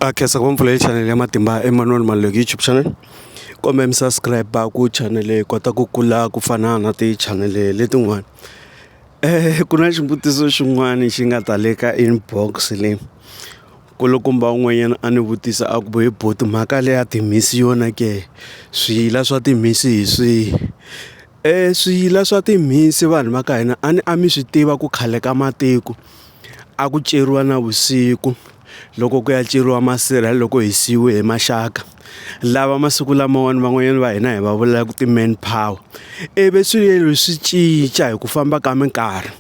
a khensa ku va mpfulele chanel ya matimba Emmanuel Maluleke YouTube channel kumbe mi subscribe a ku chanel hi kota ku kula ku fana na ti chanel letin'wana ku na xivutiso xin'wana xi nga ta le ka inbox leyi kulukumba un'wanyana a ni vutisa a ku bo hi boti mhaka leyi ya timhisi yona ke swiyila swa timhisi hi swihi swiyila swa timhisi vanhu va ka hina a ni a mi swi tiva ku khale ka matiko. A ku ceriwa na vusiku loko ku ya ceriwa masirha loko hi siyiwe hi maxaka lava masiku lamawani van'wanyana va hina hi va vulaka ti-man power ivi swilo swi cinca hi ku famba ka minkarhi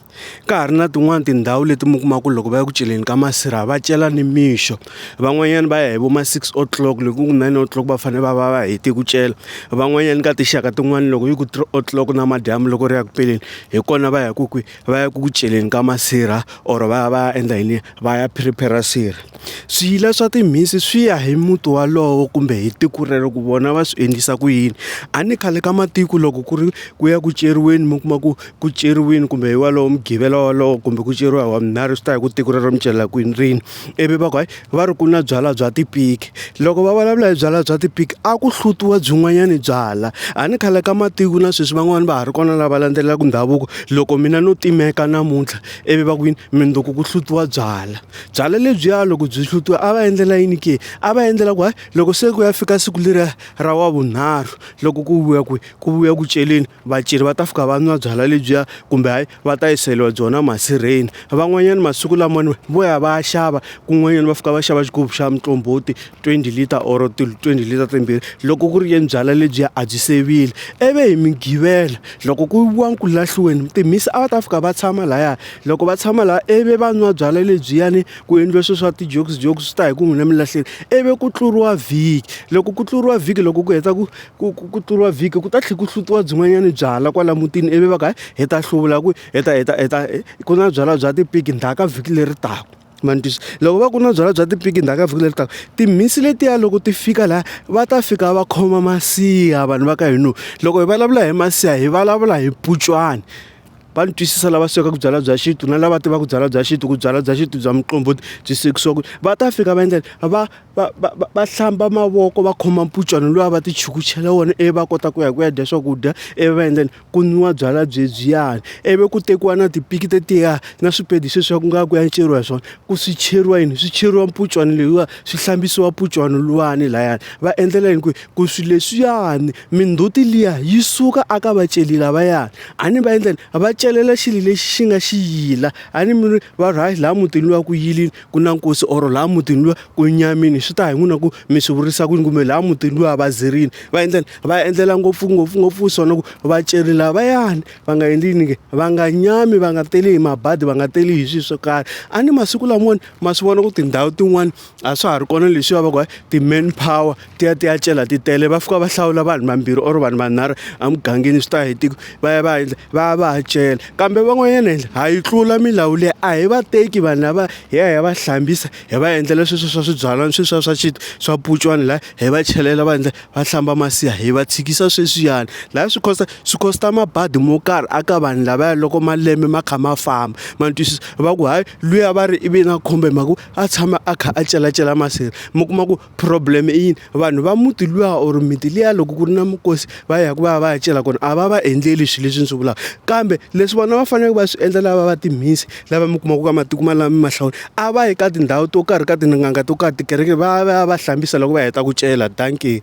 ka ha ri na tin'wani tindhawu leti mi kumaka ku loko va ya ku celeni ka masirha va cela nimixo van'wanyana va ya hi vo ma six o'clock loko ku nine o'clock va fanele va va va hete ku cela van'wanyana ka tinxaka tin'wani loko yi ku three o'clock namadyambu loko ri ya ku peleni hi kona va ya ku kwihi. va ya ku ku celeni ka masirha or va ya va ya endla yini va ya prepare sirha swiyila swa timhisi swi ya hi muti walowo kumbe hi tiko rero ku vona va swi endlisa ku yini a ni khale ka matiko loko ku ri ku ya ku ceriweni mi kuma ku ku ceriwini kumbe hi walowo mugqivela walowo kumbe ku ceriwa hi wavunharhu swi ta hi ku tiko rero mi celela kwini rini ivi va ku hayi. va ri ku na byalwa bya tipiki loko va vulavula hi byalwa bya tipiki a ku hlutiwa byin'wanyani byalwa a ni khale ka matiko na sweswi van'wani va ha ri kona lava landzelelaka ndhavuko loko mina no timeka namuntlha ivi va ku yini mundzuku ku hlutiwa byalwa byalwa lebyiya loko byi hlutiwa a va endlela yini ke a va endlela ku hayi loko se ku ya fika siku leriya ra wa vunharhu loko ku vuya kwihi ku vuya ku celeni vaceri va ta fika va nwa byalwa lebyiya kumbe hayi. va ta yiseriwa byona masirheni van'wanyana masiku lamawani vo ya va ya xava kun'wanyana va fika va xava xigubu xa muqombhoti twenty litre or twenty litre timbirhi loko ku ri yena byalwa lebyiya a byi se vile i vi hi migqivela loko ku yiviwa ku lahliweni timhisi a va ta fika va tshama laya loko va tshama laha i vi va nwa byalwa lebyiyani ku endliwe swilo swa ti-jokes jokes swi ta hi ku n'wina mi lahlile i vi ku tluriwa vhiki loko ku tluriwa vhiki loko ku heta ku ku ku ku tluriwa vhiki ku ta tlhela ku hlutiwa byin'wanyana byalwa kwala mutini ivi va ka hi ta hluvula ku hi ta hi ta hi ta ku na byalwa bya tipiki ndhaka vhiki leri taka ma ni twisa loko va ku na byalwa bya tipiki ndhaka vhiki leri taka timhisi letiya loko ti fika laha va ta fika va khoma masiha vanhu va ka hina loko hi vulavula hi masiha hi vulavula hi mpunchwana va ni twisisa lava swekaka byalwa bya xintu na lava tivaka byalwa bya xintu ku byalwa bya xintu bya muqombhoti byi swekisiwa ku va ta fika va endlela va. va va va va hlamba mavoko va khoma mpunchwana luwa va ti chukuchela wona ivi va kota ku ya ku ya dya swakudya ivi va endla yini ku nwiwa byalwa byebyiyani ivi ku tekiwa na tipiki tetiya na swipedi sweswiya ku nga ku ya enceriwa hi swona ku swi cheriwa yini swi cheriwa mpunchwana leyiwa swi hlambisiwa mpunchwana luwani lahayani va endlela yini ku ku swilo leswiyani mindzhuti liya yi suka a ka vaceli lavayani a ni va endla yini va celela xilo lexi xi nga xiyila a ni mi ri. va ri hayi laha mutini luwa ku yilini ku na nkosi or laha mutini luwa ku nyamini swi ta hi n'wina ku mi swi vurisa ku yini kumbe laha mutini luwa va zirini va endleni va endlela ngopfu ngopfu ngopfu swona ku va ceri lavayani va nga endli yini ke va nga nyami va nga teli hi mabadi va nga teli hi swilo swo karhi a ni masiku lamawani ma swi vona ku tindhawu tin'wani a swa ha ri kona leswiya va ku ti-man power ti ya ti ya cela ti tele va fika va hlawula vanhu vambirhi or vanhu vanharhu emugangeni swi ta hi tiko va ya va endla va ya va ya cela kambe van'wanyana endla ha yi tlula milawu leyi a hi va teki vanhu lava hi ya hi ya va hlambisa hi va endlela sweswo swa swibyalana sweswiya swa xintu swa pucwana laha hi va chelela va endla va hlamba masiha hi va tshikisa sweswiyani laha swi cost swi cost mabadi mo karhi a ka vanhu lavaya loko malembe ma kha ma famba ma twisisa va ku hayi luya va ri i vi na khombo hi mhaka ku. a tshama a kha a celacela masirha mi kuma ku problem i yini vanhu va muti luya or miti liya loko ku ri na mukosi va ya ku va ya va ya cela kona a va va endleli swilo leswi ni swi vulaka kambe leswi vona va faneleke va swi endla lava va timhisi lava mi kumaka ka matiko ma lama mahlawula a va yi ka tindhawu to karhi ka tin'anga to karhi tikereke va ya va ya va hlambisa loko va heta ku cela dankie.